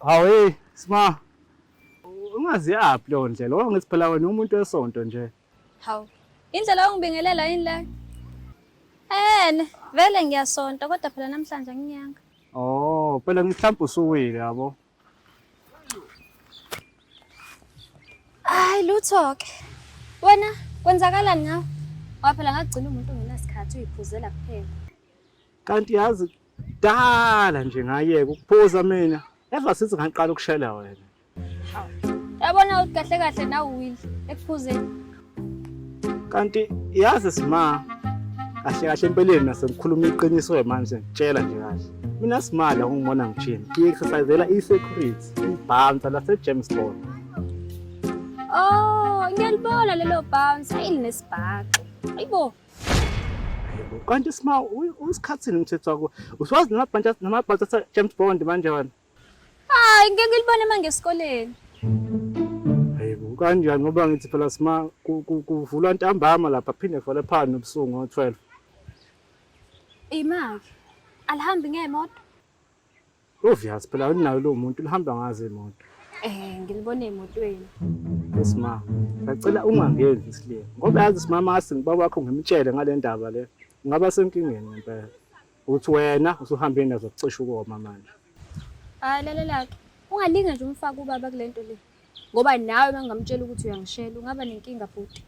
Hawu hey sma ungazi yaphi leyo ndlela ngoba ngithi phela wena umuntu wesonto nje. Hawu indlela ongibingelela yini le? Ene vele ngiyasonta kodwa phela namhlanje anginyanga. Oh phela mhlawumbe usuwile yabo. Hayi lutho ke. Wena kwenzakalani ngawe? Waphela ngagcina umuntu ngenasikhathi uyiphuzela kuphela. kanti yazi kudala nje ngayeka ukuphuza mina ever since ngaqala ukushela wena yabona ukuthi kahle kahle nawe will ekuphuzeni kanti yazi sima kahle kahle empeleni nasengikhuluma iqiniso manje ngitshela nje kahle mina simali akungibona ngijim ngi-exercisela i-security ibhansa lasejamestown oh ngiyalibona lelo bhansa ayi linesibhaxo ayibo kanti sima usikhathini umthetho wakho usiwazi namabhantshi namabhantshi athe James Bond manje wena hayi ngeke ngilibone manje esikoleni hayibo kanjani ngoba ngithi phela sima kuvulwa ntambama lapha phinde kuvale phana nobusuku ngo-12 imaki alihambi ngemoto Obvious phela unayo lo muntu lihamba ngaze imoto. Eh ngilibone emotweni. Yes ma. Ngicela ungangenzi isile. Ngoba yazi simama asi ngibaba wakho ngimtshele ngale ndaba le. Ungaba senkingeni ngempela. Uthi wena usuhambe nazo kucisha ukoma manje. Hayi lalela ke. Ungalinge nje umfaka ubaba kulento le. ngoba nawe bengingamtshela ukuthi uyangishela ungaba nenkinga bhuti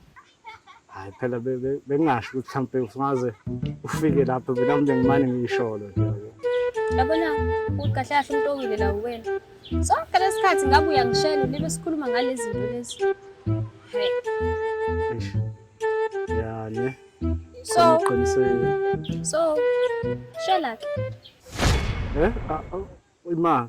hayi phela bengingasho ukuthi mhlawumpe usungaze ufike lapho mina mnje ngimane ngiyisholo nje yabona uqahlahla umuntu owile la uwena sonke lesikhathi ngabe uyangishela libe sikhuluma ngalezi zinto lezi yani so so shela ke eh ah, ah, imali